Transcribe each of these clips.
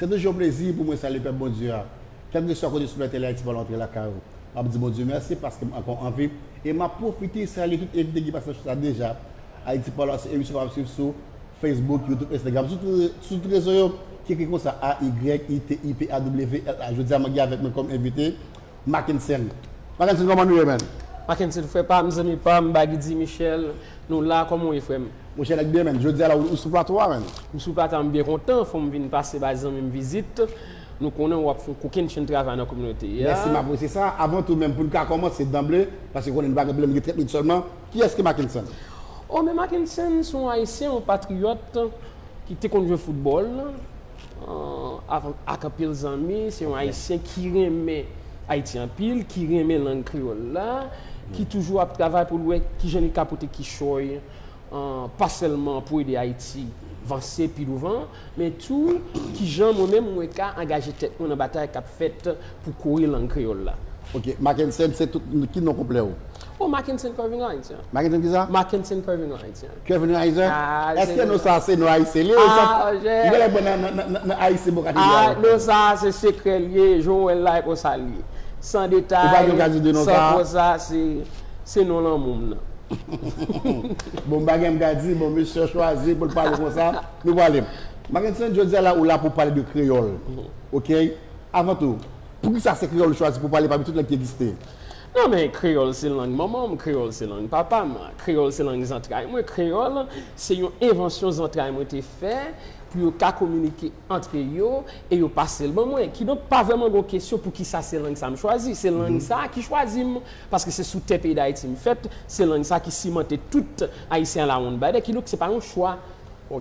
Se toujou yon plezi pou mwen salye pèp Bondye a. Kèlkeswa kote sou lè Tele Ayiti pral antre lakay ou, map di Bondye mèsi paskem ankò anvi e map pwofite salye tout envite ki pase nan show sa deja. Ayiti pa lwa se emisyon map swiv sou Facebook, YouTube, Instagram, sou tout rezo yo ki ekri konsa AYITIPAWLA. Jodia mwen gen avèk mwen kòm envite. Mackensen. Mackensen koman nou ye menn? Mackensen frè pam zanmi pam bagy di Michel nou la koman ou ye frèm. Mwen chèlèk byen menn jodia la ou sou plato a menn. M sou plato a m byen kontan fom vin pase bay zanmim vizit nou konnen wap fon kokenn chenn travay nan kominote a. Mèsi m apresye sa, avan tou menm poun ka kòmanse danble paske konnen nou pa gen pwoblèm gen 30 minit sèlman, kiyès ki Mackensen? Oh men Mackensen se yon ayisyen yon patriyòt ki te konn jwe foutbòl. ak anpil zanmi, se yon ayisyen ki renmen Ayiti anpil, ki renmen lang kreyòl la, ki toujou ap travay pou l wè ki jan li ka pote kichòy pa sèlman pou ede Ayiti vanse pi douvan, men tou ki jan mwen menm mwen ka angaje tèt mwen nan batay k ap fèt pou kore lang kreyòl la. Ok. Mackensen, se tout, ki non konplè ou? Oh Mackenson Kervin Haitian. Mackenson ki sa? Mackenson Kervin Haitian. Kervin Haitian? Ah, Eske nou sa se nou Haitian li? Ah, je. Yon lè bon nan Haitian bon katedral. Ah, nou sa se sekrè li ye, jou wè la e kon sa li ye. San detay. Ou pa gen okazyon di nou sa? San kon sa se, se nou lanmou m nan. Bon m pa gen m ka di, bon misye chwazi pou l pale kon sa, nou pale. Mackenson jodi a la ou la pou pale de kreyòl. Ok, avan tou, pou ki sa se kreyòl ou chwazi pou pale pami tout lang ki egziste? Non men kreyòl se lang manman m, kreyòl se lang papa m, kreyòl se lang zantray mwen, kreyòl se yon envansyon zantray mwen te fè pou yo ka kominike antre yo e yo pase l ban mwen. Kidonk pa vrèman gon kesyon pou ki sa se lang sa m chwazi. Se lang sa ki chwazi m paske se sou tè peyi Dayiti m fèt, se lang sa ki simante tout Ayisyen alawonnbadè. Kidonk se pa yon chwa.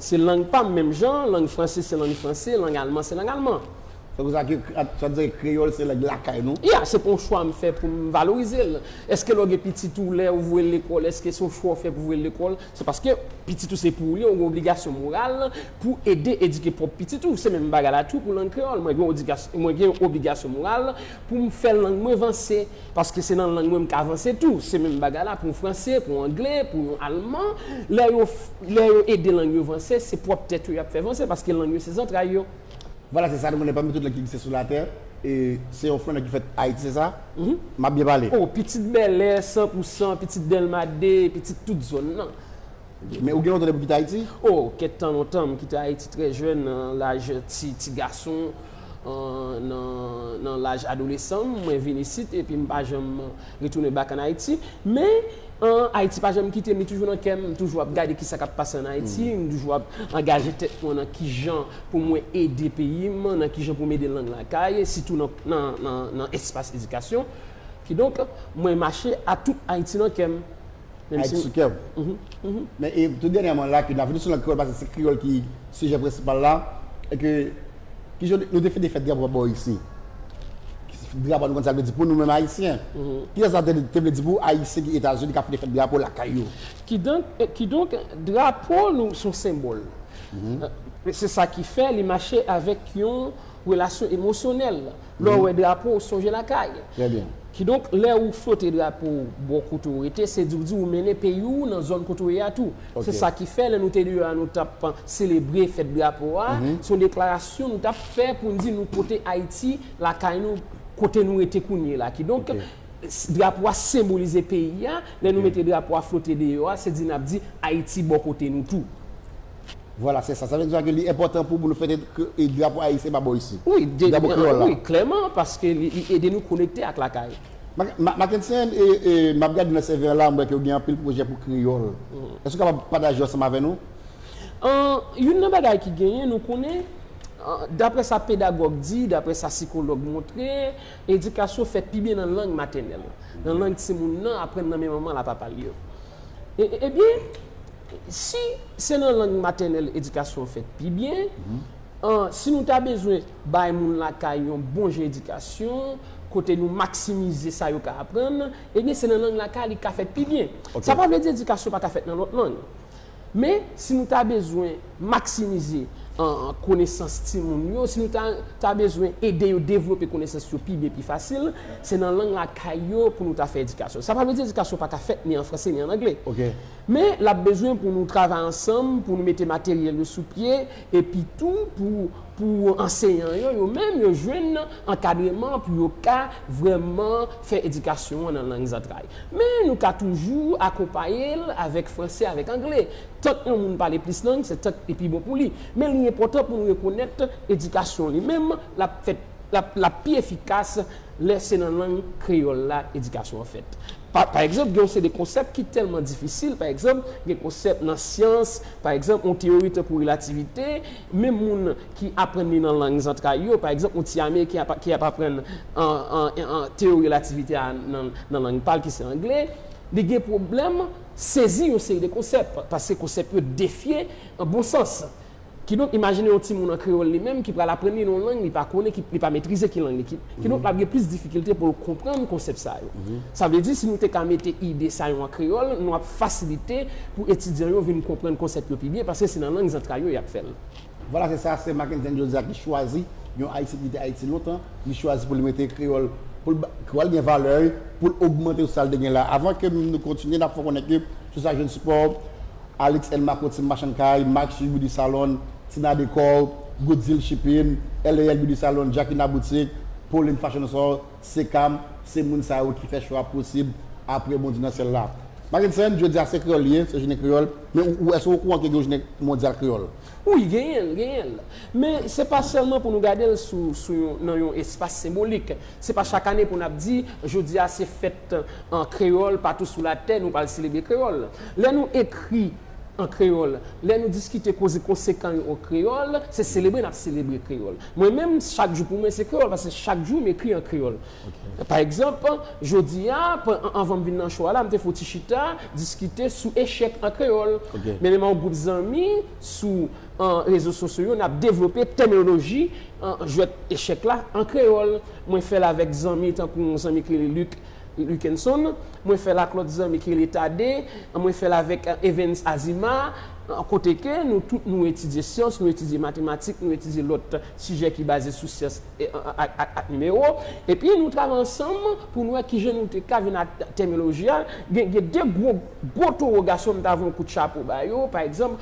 Se lang pa m menm jan lang franse se lang franse, lang alman se lang alman. Sa vle di sa ke, sa vle di sa ke kreyòl se lang lakay nou? Ya, se pa yon chwa m fè pou m valorize l. Eske lè w gen pitit ou, lè ou voye l lekòl, eske se yon chwa ou fè pou voye l lekòl? Se paske pitit ou se pou ou li, ou gen obligasyon moral pou ede edike pwòp pitit ou. Se menm bagay la tou pou lang kreyòl. Mwen gen yon odigasyon, mwen gen yon obligasyon moral pou m fè lang mwen vanse. Paske se nan lang mwen m ka vanse tou. Se menm bagay la pou yon franse, pou yon angle, pou yon alman. Lè yo, lè yo ede lang yo vanse, se pwòp tèt yo y ap fè vanse paske lang yo se zantray yo. Vwala se sa nou konnen pami tout lang ki egziste sou latè e se yon fwon nan ki fèt Ayiti se sa m ap byen pale? O, pitit Bèlè san pou san, pitit Dèlma 2, pitit tout zòn nan. Ok, men ou gen lontan depi w kite Ayiti? O, kèk tan lontan, m kite Ayiti trè jèn nan laj ti ti gason, nan laj adolesan m mwen vin isit epi m pa janm. Retounen back an Ayiti. Men, an, Ayiti pa janm kite m, li toujou nan kè m. M toujou ap gade ki sa k ap pase an Ayiti. M toujou ap angaje tèt mwen nan ki jan pou mwen ede peyi m, nan ki jan pou m ede lang lakay, sitou nan, nan, nan, nan espas edikasyon. Kidonk, mwen mache a tout Ayiti nan kè m. Menm si. Ayiti sou kè ou. Men e tou dènyèman la ke n ap vini sou lang kreyòl paske se kreyòl ki sijè prensipal la e ke ki jan nou te fin te fè drapo pa bò isi. Drapo a nou konn sa l vle di pou nou menm Ayisyen. Ki jan sa te vle di pou Ayisyen ki Etazini k ap fin te fèt drapo lakay yo. Kidonk, kidonk drapo nou s on senbòl. Se sa ki fè li mache avèk yon relasyon emosyonèl. Lè w wè drapo w sonje lakay. Kidonk lè ou flote drapo w bò kote w rete se di w di ou mennen peyi w nan zòn kote w ye a tou. Se sa ki fè lè nou te deyò a nou t ap selebre fèt drapo a, se yon deklarasyon nou t ap fè pou n di nou pote Ayiti lakay nou kote nou rete kounye la. Kidonk drapo a senbolize peyi a, lè nou mete drapo a flote deyò a se di n ap di Ayiti bò kote nou tou. Vwala se sa. Sa vle di ke li enpòtan pou nou fete ke drapo ayisyen pa bò isit. Wi, drapo kreyòl la. Wi, klèman, paske li ede nou konekte ak lakay. Mackensen, m ap gade nan CV la, m wè ke ou gen anpil pwojè pou kreyòl. Èske ou kapab pataje yo ansanm avè nou? Youn nan bagay ki genyen, nou konnen, dapre sa pedagòg di, dapre sa sikològ montre, edikasyon fèt pi byen nan lang matènèl. Nan lang timoun nan aprann nan men manman l a papa l yo. Ebyen. Si se nan lang matènèl edikasyon an fèt pi byen, an, si nou ta bezwen bay moun lakay yon bon jan edikasyon, kote nou maksimize sa yo ka aprann, ebyen se nan lang lakay li ka fèt pi byen. Sa pa vle di edikasyon pa ka fèt nan lòt lang. Men, si nou ta bezwen maksimize, an, konesans timoun yo, si nou ta ta bezwen ede yo devlope konesans yo pi byen, pi fasil, se nan lang lakay yo pou nou ta fè edikasyon. Sa pa vle di edikasyon pa ka fèt ni an franse ni an angle. Men, l ap bezwen pou nou travay ansanm pou nou mete materyèl yo sou pye epi tou pou pou anseyan yo, yo menm, yo jwenn ankadreman pou yo ka vrèman fè edikasyon an nan lang zantray. Men, nou ka toujou akonpaye l avèk franse avèk angle. Tank yon moun pale plis lang, se tank li pi bon pou li. Men, li enpòtan pou nou rekonèt edikasyon li menm, l ap fèt, l ap, l ap pi efikas lè se nan lang kreyòl la edikasyon an fèt. Pa pa egzanp, gen yon seri de konsèp ki tèlman difisil, pa egzanp, gen konsèp nan syans, pa egzanp, yon teyori tankou relativite, menm moun ki aprann li nan lang zantray yo, pa egzanp, yon ti Ameriken ap ki ap aprann teyori relativite a nan lang pa l ki se angle, li gen pwoblèm sezi yon seri de konsèp, paske konsèp yo defye bon sans. Kidonk, imajine yon timoun an kreyòl li menm ki pral aprann li nan yon lang li pa konnen, ki, li pa metrize ki lang li. Ki, kidonk l ap gen plis difikilte pou l konprann konsèp sa yo. Sa vle di, si nou te ka mete ide sa yo an kreyòl, nou ap fasilite pou etidyan yo vin konprann konsèp yo pi byen, paske se nan lang zantray yo y ap fè l. Vwala, se sa, se Mackensen jodi a ki chwazi yon Ayisyen ki te Ayiti lontan, li chwazi pou li mete kreyòl, pou l ba kreyòl gen valè l, pou l ogmante sou sa l te gen la avan. Ke nou kontinye, n ap fè w konnen ke sou sa jwenn sipò. Alix and Marco Team Machann Kay, Max Sue Beauty Salon, Tina Decor, Good Deal Shipping, LAL Beauty Salon, Jacquina Boutique, Pauline Fashion Store, Sekam, se moun sa yo ki fè show a posib aprè Bondye nan syèl la. Mackenson, jodi a se kreyòl li ye, se jounen kreyòl, men ou èske ou okouran ke gen yon jounen mondyal kreyòl? Wi, genyen l, genyen l. Men se pa sèlman pou nou gade l sou, sou yon, nan yon espas senbolik. Se pa chak ane pou n ap di, jodi a se fèt an kreyòl patou sou latè, nou pral selebre kreyòl. Lè nou ekri an kreyòl, lè nou diskite koze konsekan yo an kreyòl, se selebre n ap selebre kreyòl. Mwen menm, chak jou pou mwen se kreyòl paske chak jou m ekri an kreyòl. Pa egzanp, jodi a, anvan m vin nan cho a la, m te fè yon ti chita diskite sou echèk an kreyòl. Men menm ak yon gwoup zanmi sou rezo sosyo yo, n ap devlope tèminoloji jwèt echèk la an kreyòl. Mwen fè l avèk zanmi tankou yon zanmi ki rele Luc Lukenson. Mwen fè l ak lòt zanmi ki rele Thadee. Mwen fè l avèk Evens Azima. Kote ke nou tout nou etidye syans, nou etidye matematik, nou etidye lòt sijè ki baze sou syans ak nimewo. Epi nou travay ansanm pou nou wè ki jan nou te ka vin ak tèminoloji a. Gen de gwo gwo towogasyon m ta voye yon kout chapo ba yo. Pa egzanp.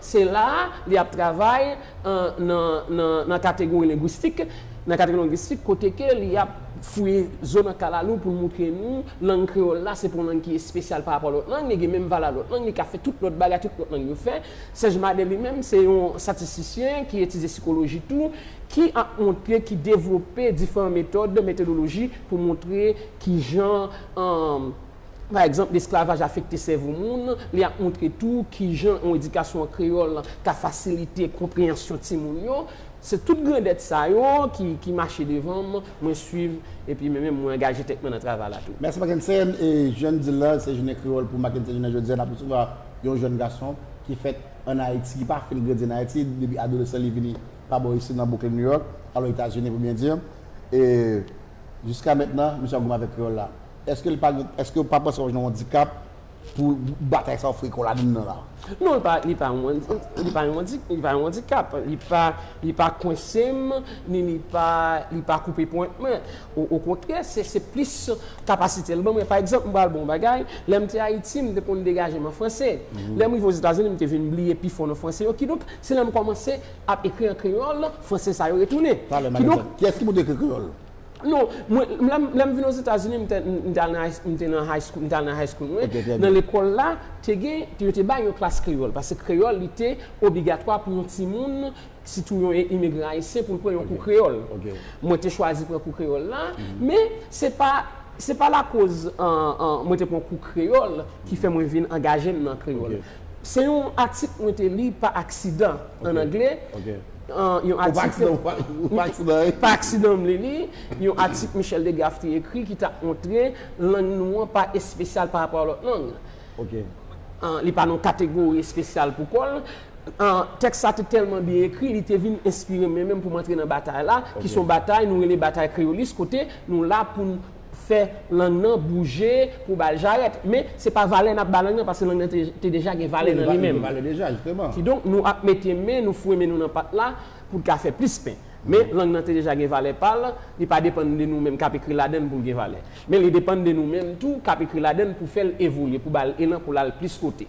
Se la a li ap travay nan kategori lengwistik, nan kategori lengwistik kote ke li ap fouye zo nan kalalou pou l moutre nou lang kreyòl la se pa yon lang ki espesyal pa rapò a lòt lang, li gen menm valè a lòt lang, li ka fè tout lòt bagay tout lòt lang yo fè. Sèj Madè li menm se yon statistisyen ki etidye sikoloji tou ki ap moutre, ki devlope diferan metòd, metodoloji pou moutre kijan. Pa egzanp, lesklavaj afekte sèvo moun, li ap montre tou ki jan yon edikasyon an kreyòl ka fasilite konpreyansyon timoun yo. Se tout grandèt sa yo ki mache devan m, mwen suiv epi mwen menm mwen angaje tèt mwen nan travay la tou. Mèsi Mackensen, e jan n di l la, se Jounen Kreyòl pou Mackensen jounen jodi a n ap resevwa yon jèn gason ki fèt ann Ayiti, ki pa fin grandi ann Ayiti, depi adolesan li vini pa bò isit nan Brooklyn, New York, alo Etazini pou byen di, e jiska mètnan misye ap goumen avèk kreyòl la. Eske l pa gen, eske ou pa panse w ap jwenn yon dikap pou batay sa w fre kò w ladann nan la? Non, li pa, li pa yon, li pa yon, li pa yon andikap. Li pa, li pa kwense m, ni li pa, li pa koupe pwent mwen. O, okontrè, se, se plis kapasite l ban mwen. Pa egzanp, m pral ba w yon bagay, lè m te Ayiti, m te konn degaje m an franse. Lè m rive Ozetazini, m te vin bliye pi fò nan franse yo. Kidonk, se lè m kòmanse ap ekri an kreyòl, franse sa yo retounen. Talè m ba n egzanp. Kiyès ki pou te ekri kreyòl? Non, mwen, lè m, lè m vin Ozetazini, m te, m te al nan high, m te nan high school, m te al nan high school mwen, nan lekòl la, te gen, yo te bay yon klas kreyòl, pase kreyòl li te obligatwa pou yon timoun, sitou yon imigran ayisyen pou l pran yon kou kreyòl. Mwen te chwazi pran kou kreyòl la, men, se pa, se pa lakoz mwen te pran kou kreyòl ki fè mwen vin angaje m nan kreyòl. Se yon atik mwen te li pa aksidan, an angle. Ou pa aksidan ou pa li li. Pa aksidan hein? Pa aksidan m li li. Yon atik Michel DeGraff te ekri ki t ap montre lang nou an pa espesyal parapò a lòt lang. Li pa nan yon kategori espesyal pou kò l. Tèks sa te tèlman byen ekri, li te vin enspire m menm pou m antre nan batay la, ki s on batay nou rele batay kreyolis kote nou la pou n fè lang nan bouje pou ba l jarèt. Men, se pa valè n ap ba lang nan paske lang nan te deja gen valè nan li menm. Kidonk, nou ap mete men nou foue men nou nan pat la pou l ka fè plis pen. Men, lang nan te deja gen valè pa l, li pa depann de nou menm k ap ekri ladan l pou l gen valè. Men, li depann de nou menm tou k ap ekri ladan l pou fè l evolye, pou ba l elan pou l al plis kote.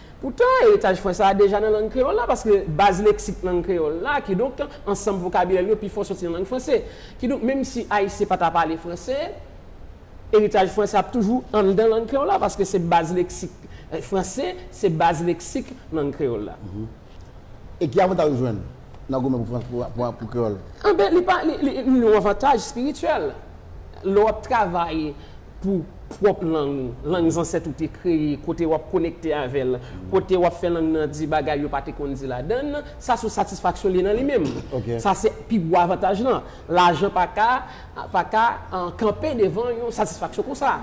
Poutan, eritaj fwen sa a deja nan lang kreyòl la, paske baz leksik lang kreyòl la, kidonk, ansanm vokabilè l yo pifò soti nan lang franse. Kidonk, menmsi Ayisyen pa ta pale franse, eritaj fwen sa a ap toujou anndan lang kreyòl la, paske se baz leksik franse, se baz leksik lang kreyòl la. E ki avantaj ou jwenn nan goumen pou kreyòl? Enben, li yon avantaj espirityèl. Lè w ap travay. pou pwòp lang ou, lang zansèt ou te kreye, kote w ap konekte avè l, kote w ap fè lang nan di bagay yo pa te konn di ladan l, sa se satisfaksyon li nan li menm. Sa se pi gwo avantaj lan. Lajan pa ka pa ka kanpe devan yon satisfaksyon konsa.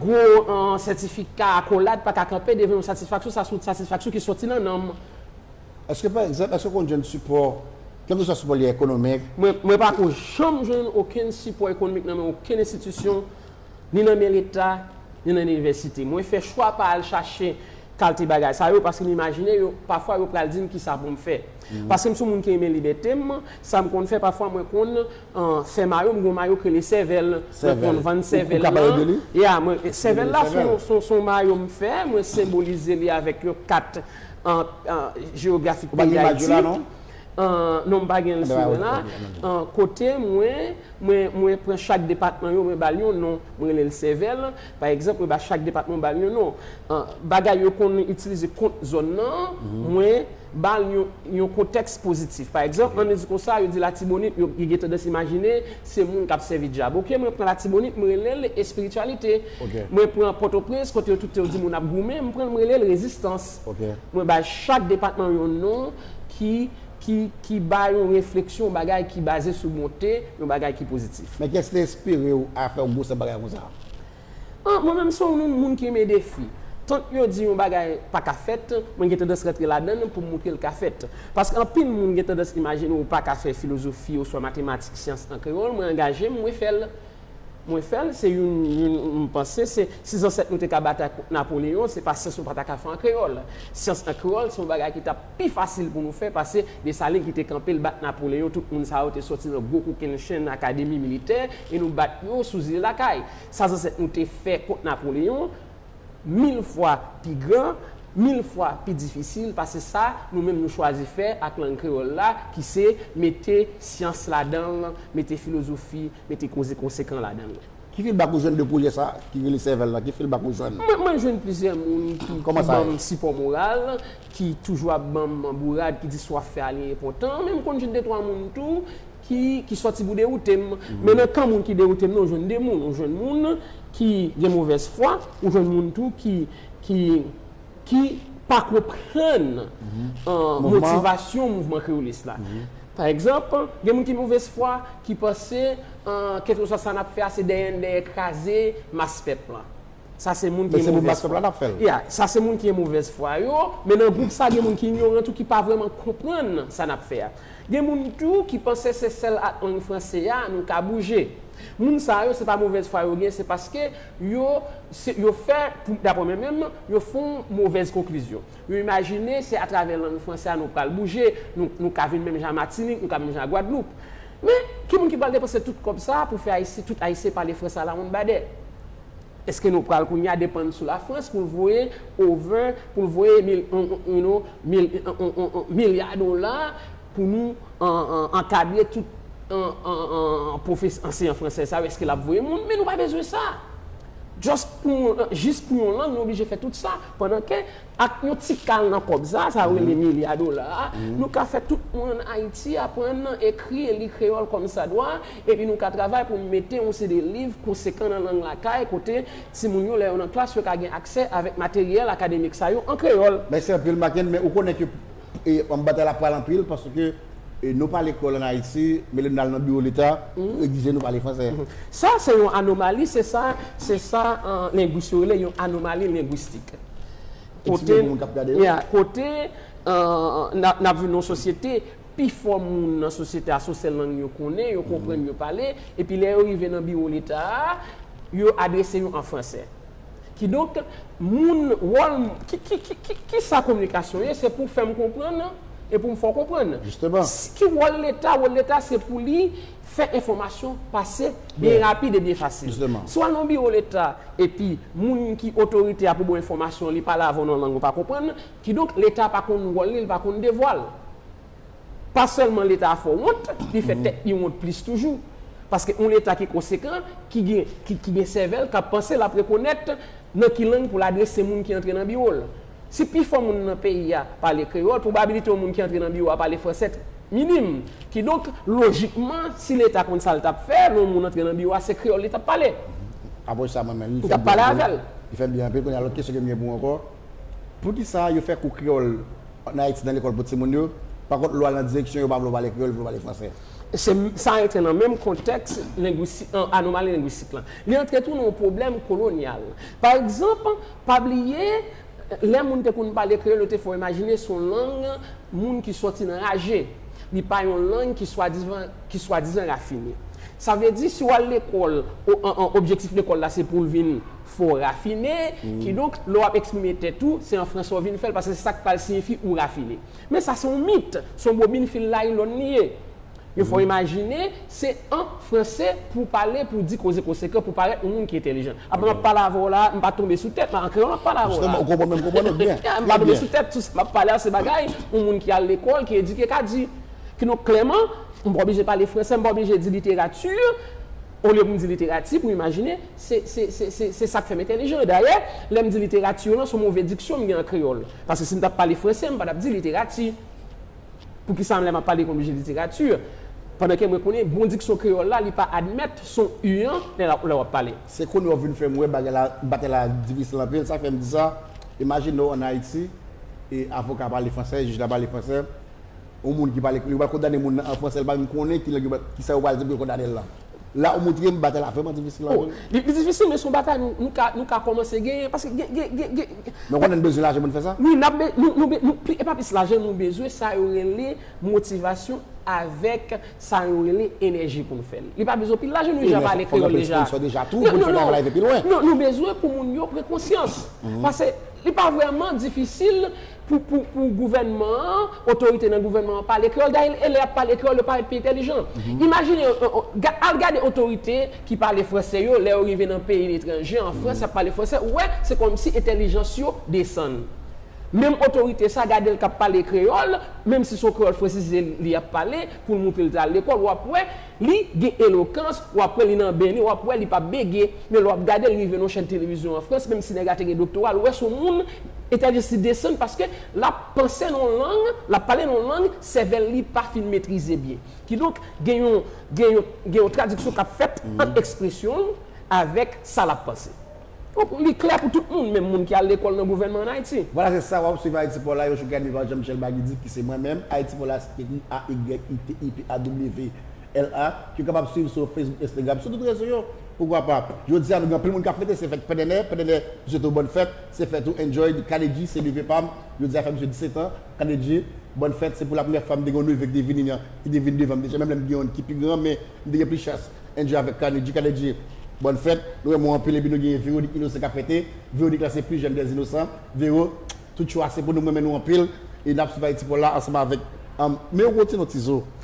Gwo sètifika, akolad pa ka kanpe devan yon satisfaksyon. Sa se yon satisfaksyon ki soti nan nanm. Èske pa egzanp, èske w konn jwenn sipò? Kèlkeswa sipò li ekonomik. Mwen pa ko janm jwenn okenn sipò ekonomik nan men okenn enstitisyon, ni nan men leta, ni nan inivèsite. Mwen fè chwa pa al chache kalte bagay sa yo paske m imajine yo, pafwa yo pral di m kisa pou m fè. Paske m son moun ki renmen libète m, sa m konn fè pafwa mwen konn fè mayo, m gen yon mayo ki rele sèvèl, mwen konn vann sèvèl lan. Sèvèl, ou ka pale de li? Ya, mwen, sèvèl la son yon mayo m fè, mwen senbolize li avèk yon kat jewografik peyi Dayiti. Ou pa gen imaj yo la non? Non mpa gen l sou mwen la. Kote mwen, mwen pran chak depatman yo mwen ba l yon non. Mwen rele l sèvèl. Pa egzanp, mwen ba chak depatman mwen ba l yon non. Bagay yo konn itilize kont zòn nan, mwen ba l yon kontèks pozitif. Pa egzanp, ann nou di konsa, yo di Latibonit, yo gen tandans imajine se moun k ap sèvi dyab. Ok, mwen pran Latibonit, mwen rele l espirityalite. Mwen pran Pòtoprens, kote yo tout te yo di moun ap goumen, mwen pran l mwen rele l rezistans. Mwen bay chak depatman yon non. ki, ki, ki bay yon refleksyon, yon bagay ki baze sou bonte, yon bagay ki pozitif. Men kiyès te enspire ou a fè yon gwosè bagay konsa a? Ah, mwen menm se yon moun ki renmen defi. Tank yo di yon bagay pa ka fèt, mwen gen tandans rantre ladan l pou m montre l ka fèt. Paske anpil moun gen tandans imajine ou pa ka fè filozofi oswa matematik, syans an kreyòl, mwen angaje m, mwen fè l. Mwen fèl se youn youn m panse se si zansèt nou te ka batay kont Napoleon se pa syans nou pa ta ka fè an kreyòl. Syans an kreyòl se yon bagay ki tap pi fasil pou nou fè pase Dessalines ki te kanpe l bat Napoleon tout moun sa yo te sòti nan gwo kokennchenn akademi militè e nou bat yo sou zile lakay. Sa zansèt nou te fè kont Napoleon mil fwa pi gran, mil fwa pi difisil pase sa nou menm nou chwazi fè ak lang kreyòl la ki se mete syans ladan l, mete filozofi. Mete koze konsekan ladan l. Ki feedback ou jwenn de pwojè sa ki rele Sèvèl la? Ki feedback ou jwenn? Mwen jwenn plizyè moun ki ban m sipò moral, ki toujou ap ban m bourad, ki di sa w ap fè a li enpòtan. Men m konn jwenn de twa moun tou ki sòti pou dewoute m. Men nan kan moun ki dewoute m nan, ou jwenn de moun. Ou jwenn moun ki gen movèz fwa, ou jwenn moun tou ki pa konprann motivasyon mouvman kreyolis la. Pa egzanp, gen moun ki movèzfwa, ki panse kèlkeswa sa n ap fè a se dèyè n dèyè kraze mas pèp lan. Sa se moun ki gen movèzfwa. Ya, sa se moun ki gen movèzfwa yo, men nan gwoup sa gen moun ki inyoran tou ki pa vrèman konprann sa n ap fè a. Gen moun tou ki panse se sèl ak lang franse a nou ka bouje. Moun sa yo se pa movèzfwa yo gen, se paske yo fè, daprè mwen menm, yo fè yon movèz konklizyon. Yo imajine se atravè lang franse a nou pral bouje, nou ka vin menm jan a Matinik, nou ka menm jan a Gwadloup. Men, ki moun ki pral depanse tout kòb sa a pou fè Ayisyen, tout Ayisyen pale franse alawonnbadè? Eske nou pral kounye a depann sou Lafrans pou l voye ove, pou l voye mil, you know, mil, milya dola pou nou ankadre tout pwofes, anseyan franse sa yo? Eske l ap voye moun? Men nou pa bezwen sa! Just pou yon, jis pou yon lang nou oblije fè tout sa, pandan ke ak yon ti kal nan kòb sa, sa yo rele milya dola a, nou ka fè tout moun ann Ayiti aprann ekri e li kreyòl kòmsadwa, epi nou ka travay pou mete yon seri de liv konsekan nan lang lakay kote timoun yo lè yo nan klas yo ka gen aksè avèk materyèl akademik sa yo an kreyòl. Mèsi anpil Makenn, men ou konnen ke Batay la pral anpil paske nou pa lekòl an Ayiti, men lè nou al nan biwo leta, yo egzije nou pale fransè. Sa se yon anomali, se sa se sa lengwis yo rele yon anomali lengwistik. Kote kote n ap viv nan yon sosyete, pifò moun nan sosyete a se yon sèl lang yo konnen, yo konprann, yo pale, epi lè yo rive nan biwo leta a, yo adrese yo an fransè. Kidonk, moun, wòl m, ki, ki, ki, ki, kisa kominikasyon ye? Se pou fè m konprann e pou m fè w konprann. Jisteman. Si, ki wòl Leta? Wòl Leta se pou li fè enfòmasyon pase byen rapid e byen fasil. Jisteman. Si w al nan yon biwo Leta epi moun ki otorite a pou ba w enfòmasyon li pale avè w nan lang ou pa konprann, kidonk Leta pa konn wòl li, li pa konn devwa l. Pa sèlman leta a fò wont, li fè tèt li wont plis toujou. Paske yon leta ki konsekan, ki gen sèvèl, k ap panse, l ap rekonèt nan ki lang pou l adrese moun ki antre nan biwo l. Si pifò moun nan peyi a pale kreyòl, pwobabilite yon moun ki antre nan biwo a pale franse minim. Kidonk, lojikman, si leta konn sa l t ap fè, lè yon moun antre nan biwo a, se kreyòl li t ap pale. Apre sa, mwen menm, li fè m byen anpil. Li fè m byen anpil. Kounye a, lòt kesyon ke m gen pou ou ankò, Poukisa yo fè kou kreyòl an Ayiti nan lekòl pou timoun yo, pa kont lwa lan direksyon yo pa vle yo pale kreyòl, yo vle yo pale fransè? Se sa rantre nan menm kontèks lengwistik lan, anomali lengwistik lan. Li rantre tou nan yon pwoblèm kolonyal. Pa egzanp, pa bliye, lè moun te konn pale kreyòl, yo te fè w imajine se yon lang moun ki sòti nan raje. Li pa yon lang ki swadizan, ki swadizan rafine. Sa vle di, si w al lekòl, objektif lekòl la se pou l vin Fò w rafine, kidonk, lè w ap eksprime tèt ou, se an franse w vin fè l, paske se sa k pral siyifi ou rafine. Men sa se yon mit, se yon bobin fil naylon li ye. Yo fè w imajine, se an franse pou w pale, pou w di koze konsekan, pou w parèt yon moun ki entèlijan. Apa m ap pale avè w la a, m pa tonbe sou tèt, an kreyòl m ap pale avè w la a. Jisteman, ou konprann men m konprann ou byen. M pa tonbe sou tèt, tout sa m ap pale a se bagay yon moun ki al lekòl, ki edike ka di. Kidonk, klèman, m pa oblije pale franse, m pa oblije di literati. Olye pou m di literati pou imajine, se sa k fè m entèlijan an. Dayè, lè m di literati lan, s on move diksyon m gen an kreyòl. Paske si m t ap pale franse, m pa t ap di literati. Poukisa lè m ap pale, m oblije literati? Pandan ke mwen konnen bon diksyon kreyòl la, li pa admèt s on u an lè w ap pale. Se kounye a w vin fè m wè batay la difisil anpil. Sa k fè m di sa, imajine w ann Ayiti, avoka a pale franse, jij la pale franse. yon moun ki pale kreyòl, yo pral kondane moun nan an fransè, li pa menm konnen ki lang yo pral, ki sa yo pral di pou yo kondane l lan. La ou montre m batay la vrèman difisil O, anpil. li li difisil men se yon batay nou nou ka nou ka kòmanse genyen paske gen gen gen gen gen Men ou konnen n bezwen lajan pou n fè sa? Wi n ap be nou nou be nou pi e pa plis lajan nou bezwen sa yo rele motivasyon avèk sa yo rele enèji pou n fè l. Li pa bezwen anpil lajan nou E deja men fò pale fò gen kreyòl anpil deja. sponsò deja tou pou n fè travay la rive pi lwen. Non nou bezwen pou moun yo pran konsyans pase li pa vrèman difisil pou gouvènman an, otorite nan gouvènman an pale kreyòl. Dayè, elè y ap pale kreyòl, yo parèt pi entèlijan. Imajine yon, al gade otorite ki pale franse yo, lè yo rive nan peyi letranje, an Frans, y ap pale franse, ou wè, se kòmsi entèlijans yo desann. Menm otorite sa a, gade l k ap pale kreyòl, menmsi se yon kreyòl fransize li ap pale, pou l montre l te al lekòl, w ap wè, li gen elokans, w ap wè li nan ben li, w ap wè li pa bege. Men lè w ap gade l rive nan yon chèn televizyon an Frans, menmsi nèg la te gen doktora, ou wè se yon moun, Eta de si desann paske lap panse nan yon lang, lap pale nan yon lang sèvèl li pa fin metrize byen. Kidonk gen yon gen yon gen yon tradiksyon kap fèt ant ekspresyon l avèk sa lap panse. Donk li klè pou tout moun, menm moun ki al lekòl nan gouvènman ann Ayiti. Vwala se sa wap swiv Haiti Paw la, yon chouka ede pa Jean Michel Bagy Di ki se mwen menm, Haiti Paw la se ekri HAYTIPAWLA, ki w kapab swiv sou Facebook, Instagram, sou tout rezo yo. Poukwa pa, jodi a nou gen anpil moun kap fete, se fèt pèdènè, pèdènè, m swete w bòn fèt. Se fèt ou enjoyed K-Nedjy se neve pam jodi a fè misye 17 ans K-Nedjy bòn fèt se pou la premyè fwa m te gen yon neve ki te vini nan ki te vini devan m deja menm lè m gen youn ki pi gran men m te gen plis chans enjoy avèk K-Nedjy K-Nedjy bòn fèt nou renmen w anpil epi nou gen Véronique inosan k ap fete Véronique la se pli jèn dè inosan Véro tout cho a se pou nou m renmen nou anpil e n ap swiv Ayiti pou l la ansanm avèk humm men ou rete nan ti zo.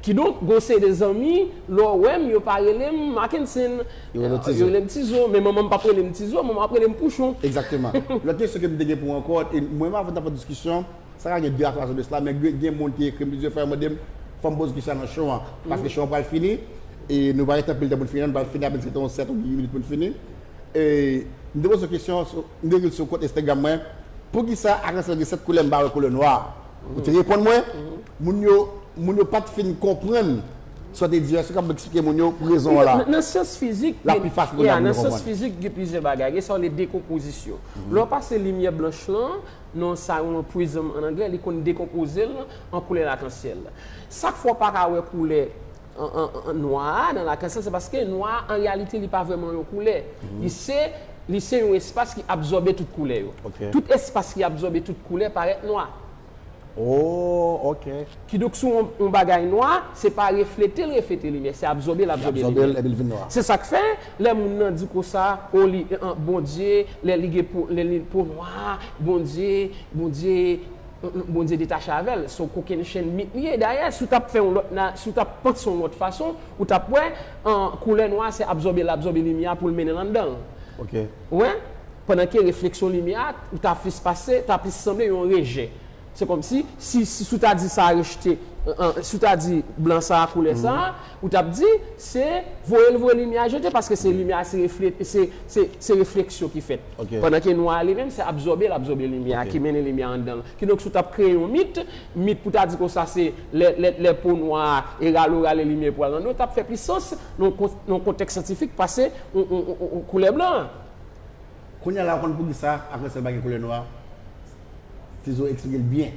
Kidonk, gen yon seri de zanmi, lè w wè m, yo pa rele m Makenson. Yo rele w Ti Zo. Yo rele m Ti Zo. Men manman m p ap rele m Ti Zo, manman m ap rele m Pouchon. Egzakteman. Lòt kesyon ke m te gen pou ankò, e mwen menm avè w ta fè yon diskisyon, sa ka gen 2 a 3 jou de sla, men gen moun ki ekri m plizyè fwa, yo mande m, fò m poze kesyon sa nan show an, paske show an pral fini, e nou pa gen anpil tan pou n fini an, nou pral fini apèn gen 7 ou 8 minit pou n fini. E, m te poze yon kesyon, m te ekri l sou kont Instagram mwen, Poukisa Akansan gen 7 koulè m pa wè koulè nwa a? Ou te reponn mwen, moun yo, moun yo pa t fin konprann sa w te di a, si w kapab eksplike moun yo pou rezon an la. Nan syans fizik, la pi fasil pou moun nan konprann. Fizik gen plizyè bagay, gen sa w rele dekonpozisyon. Lè w pase limyè blanch lan nan sa yo rele prizm an anglè, li konn dekonpoze l an koulè lakansyèl. Sak fè w pa ka wè koulè nwa a nan lakay sa se paske nwa a an reyalite li pa vrèman yon koulè li se li se yon espas ki absòbe tout koulè yo tout espas ki absòbe tout koulè parèt nwa oh ok. Kidonk si yon bagay nwa se pa reflete l reflete limyè se absòbe l absòbe limyè li absòbe l epi l vin nwa se sa k fè lè moun nan di konsa oh li Bondye lè li gen po lè li po nwa Bondye Bondye Bondye detache avè l. Son kokenn chenn mit li ye. Dayè, si w t ap fè yon lòt na, si w t ap panse yon lòt fason, ou t ap wè, an, koulè nwa a se absòbe, l absòbe limyè a pou l mennen l anndan l. Ok. Ou wè? Pandan ke refleksyon limyè a, ou ta plis pase, ta plis sanble yon rejè. Se kòmsi, si, si w ta di sa a rejte, an, si w ta di blan sa a koulè sa a, Ou tap di, se voye l voye limyè a jete paske se limyè a se refleksyon ki fèt. Pandan ke nwa a li menm se absòbe l absòbe limyè a ki mennen limyè a anndan l. Kidonk si w tap kreye yon mit, mit pou ta di konsa se lè po nwa a e ralo rale limyè pou al nan nou tap fè plis sans nan yon kontèks syantifik pase koulè blan an. Kounya la w konn poukisa akrèsèl pa gen koulè nwa? Tizo explike l byen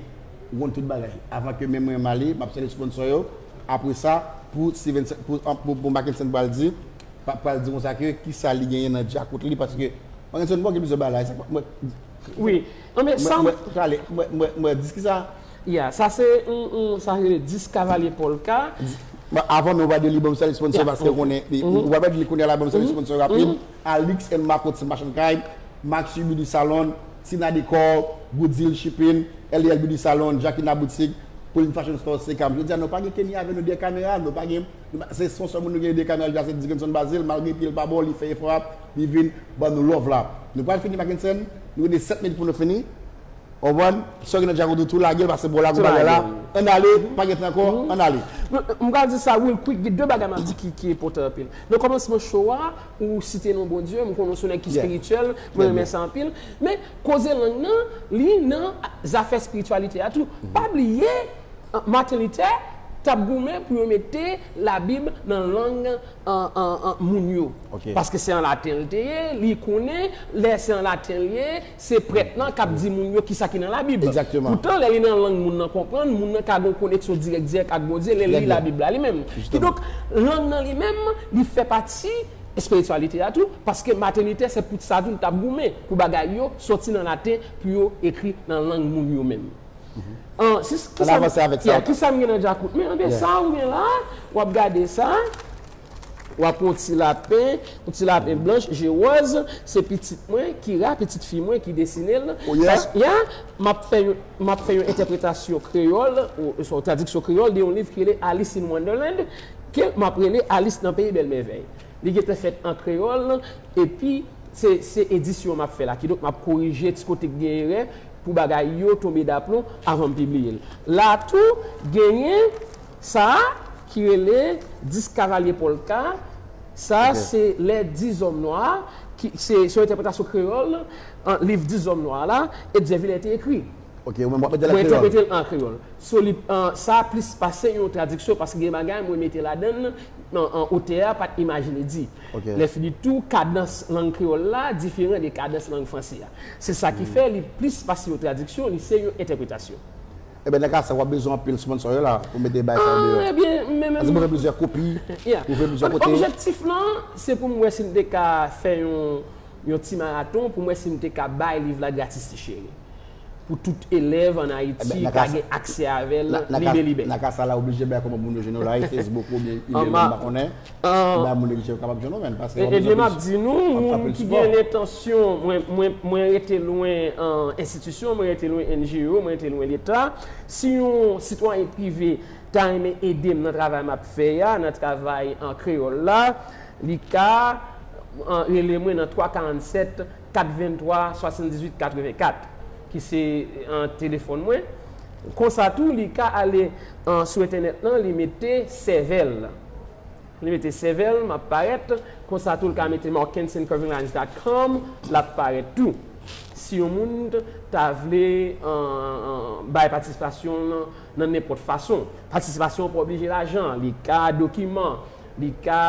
ou konn tout bagay avan ke menm mwen m ale map sèvi sponsor yo apresa pou Stevenson pou Mackenson pral di pa pral di konsa ke kisa li genyen nan djakout li paske Mackenson bon gen plizyè bagay sa mwen wi non men sam mwen prale mwen dis kisa ya sa se yon sa rele dis kavalye polka avan men w pa di li banm sèl sponsor paske ou konnen ou pa di li kounye a la banm sèl sponsor rapid Alix and Marco ti machann kay Maxi Beauty Salon. Tina Decor, Good Deal Shipping, Eliel Beauty Salon, Jacquina Boutique, Pauline Fashion Store, Sekam. Jodi a nou pa gen Kenny avè nou dèyè kamera a, nou pa gen, nou pa, se son sèl moun nou gen dèyè kamera jodi a se Dickenson Bazil, malgre pye l pa bon, li fè efò a, li vin ban nou love la. Nou pral fini Mackenson, nou rete 7 minit pou nou fini, ou konprann, sa w gen nan djakout ou tou lage l pase bò la gou bagay la, ann ale, pa gen tan ankò, ann ale. M pral di sa real quick, gen 2 bagay m ap di ki enpòtan anpil. Nan kòmansman show a, Ou site non Bondye, m konnen w se yon nèg ki espirityèl, mwen renmen sa anpil. Men, koze lang nan, li nan zafè espirityalite a tou. Pa bliye, Martin Luther t ap goumen pou yo mete Labib nan lang moun yo. Paske se an laten li te ye, li konnen lè se an laten li ye, Se prèt lan k ap di moun yo kisa ki nan Labib. Poutan, lè li nan lang moun nan konprann, moun nan ka gen yon koneksyon dirèk dirèk ak Bondye lè l li Labib la li menm. Kidonk, lang nan li menm, li fè pati espirityalite a tou, paske Maten Luther, se pou sa tou l t ap goumen, pou bagay yo soti nan laten pou yo ekri nan lang moun yo menm. Kisa m gen nan djakout mwen? Sa ou gen la a, w ap gade sa a. W ap yon ti lapen, yon ti lapen blanch je wòz, se pitit mwen, Kira, pitit fi mwen ki desine l. O ye? Pas, ya, m ap fè yon, m ap fè yon entèpretasyon kreyòl, oswa yon tradiksyon kreyòl de yon liv ki rele Alice in Wonderland, ke m ap rele Alis nan peyi bèl mèvèy. Li gen tan fèt an kreyòl, epi, se, se edisyon m ap fè la. Kidonk, m ap korije ti kote ki gen erè, pou bagay yo tonbe daplon, avan m pibliye l. La a tou, genyen. Sa a, ki rele Dis Kavalye Polka, sa a se lè Dis Zòm Nwa, ki se yon entèpretasyon kreyòl liv Dis Zòm Nwa la, Etzer Villers te ekri. Ok, ou menm w ap mete l an kreyòl? Mwen entèprete l an kreyòl. So li, sa a plis pase yon tradiksyon paske gen bagay mwen mete ladan l otè a pa t imajine di. Lèfigitou, kadans lang kreyòl la diferan de kadans lang franse a. Se sa ki fè li plis pase yon tradiksyon, li se yon entèpretasyon. Ebyen nan ka sa wap bezwen anpil sponsor yo la pou mete bay sa yo deyò. Paske mwen gen plizyè kopi, mwen voye plizyè kote. Objektif lan se pou m wè si m te ka fè yon ti maraton pou m wè si m te ka bay liv la gratis ti cheri. Pou tout elèv an Ayiti ka gen aksè avè l libelibè. Nan ka sa la oblije bay kòman pou moun yo jwenn ou la, e Facebook oubyen email ou m pa konnen. Anba moun relijyon yo kapab jwenn ou menn pase wap bezwen plis. Ebyen map di nou moun ki gen lentansyon mwen rete lwen enstitisyon, mwen rete lwen NGO, mwen rete lwen leta. Si yon sitwayen prive ta renmen edem nan travay map fè a, nan travay an kreyòl la, li ka rele mwen nan 3 47 423 78 84 ki se telefòn mwen. Konsa tou li ka ale sou entènèt lan li mete sèvèl. Li mete CV l, map parèt. Konsa tou l ka mete markensincurvinglines dot com, lap parèt tou. Si yon moun ta vle bay patisipasyon l nan nenpòt fason. Patisipasyon an pa oblije lajan. Li ka dokiman, li ka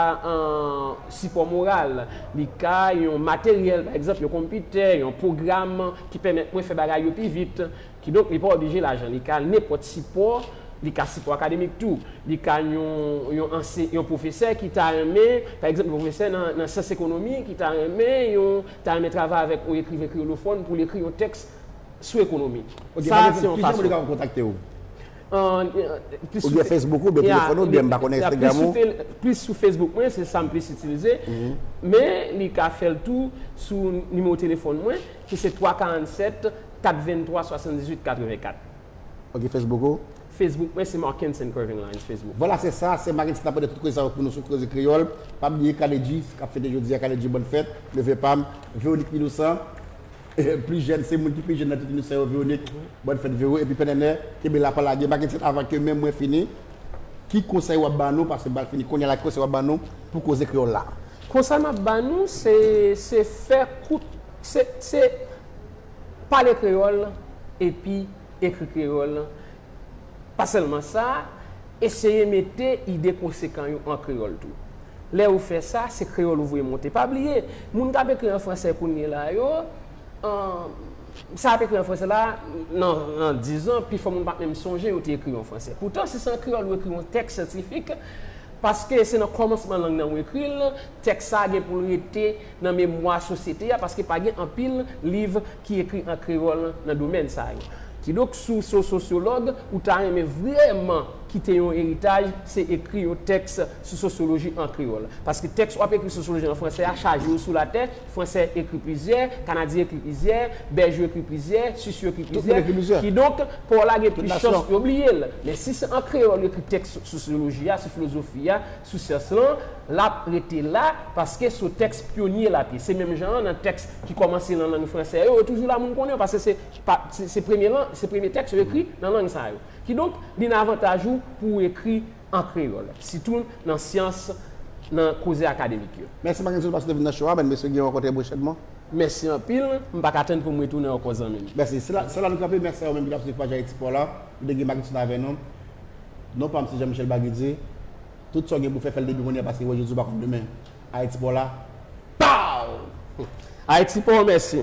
sipò moral, li ka yon materyèl, pa egzanp yon konpitè, yon pwogram ki pèmèt mwen fè bagay yo pi vit. Kidonk li pa oblije lajan, li ka nenpòt sipò, li ka sipò akademik tou, li ka yon yon anse yon pwofesè ki ta renmen, pa egzanp yon pwofesè nan nan syans ekonomi ki ta renmen yon ta renmen travay avèk yon ekriven kreyolofòn pou l ekri yon tèks sou ekonomi. Ok, Sa a se yon ki jan moun yo fason. kapab kontakte ou? An, plis Ou sou byen fe Facebook ou, ou byen ya, telefòn ou, ou byen m pa konnen ya plis Instagram sou ou? tel plis sou Facebook mwen, se sa m plis itilize, men li ka fè l tou sou nimewo telefòn mwen ki se 3 47 4 23 78 84. Ok Facebook ou? Facebook mwen se Markenson Curvinglines Facebook. Vwala se sa, sè Makenson ap mande tout koze sa yo pou nou sou Koze Kreyòl. Pa bliye K-Nedjy k ap fete jodi a, K-Nedjy bòn fèt, neve pa m, Véronique Minoussan, plis jèn, se moun ki pi jèn nan tout Minoussan yo, Véronique, bòn fèt Véro, epi Pè Nènè, kenbe la pa lage. Makenson avan ke menm mwen fini, ki konsèy w ap ban nou, paske bal fini kounye a la, ki konsèy w ap ban nou pou Koze Kreyòl la? Konsèy m ap ban nou se, se fè kout, se, se. Pale kreyòl epi ekri kreyòl, pa sèlman sa, eseye mete ide konsekan yo an kreyòl tou. Lè ou fè sa, se kreyòl ou voye monte. Pa bliye, moun k ap ekri an fransè kounyela yo, sa y ap ekri an fransè la, nan dizan, pifò moun pa p menm sonje yo te ekri yo an fransè. Poutan, si se an kreyòl ou ekri yon tèks syantifik, paske se nan kòmansman lang nan ou ekri l, Tèks sa a gen pou l rete nan memwa sosyete a paske pa gen anpil liv ki ekri an kreyòl nan domèn sa yo. Kidonk si w se yon sosyològ, ou ta renmen vrèman kite yon eritaj, se ekri yon tèks sou sosyoloji an kreyòl. Paske tèks w ap ekri sou sosyoloji an fransè a chaje yo sou latè, Fransè ekri plizyè, Kanadyen ekri plizyè, Bèj yo ekri plizyè, Swis yo ekri plizyè, kidonk pa w la gen plis chans yo bliye l. Men si se an kreyòl yo ekri tèks sou sosyoloji a, sou filozofi a, sou syans lan, l ap rete la paske sou tèks pyonye l ap ye. Se menm jan an nan tèks ki kòmanse nan lang franse yo, yo toujou la moun konnen yo paske se se premye lan se premye tèks yo ekri nan lang sa yo. Kidonk, li nan avantaj ou pou ou ekri an kreyòl, sitou nan syans, nan koze akademik yo. Mèsi Mackenson Jean Paske w te vin nan show a Bèn mesye gen yon renkontre pwochènman. Mèsi anpil, m pa ka tann pou m retounen ankò zanmi m. Mèsi. Se la nou kanpe, mèsi a ou menm ki t ap swiv paj Ayiti Paw la. Nou te gen Mackenson avè nou. Non pam se Jean Michel Bague di tout sa w gen pou fè fèl depi konnye a paske wè Jezi w pa konn demen Ayiti pa w la Pow! Ayiti pa w mèsi.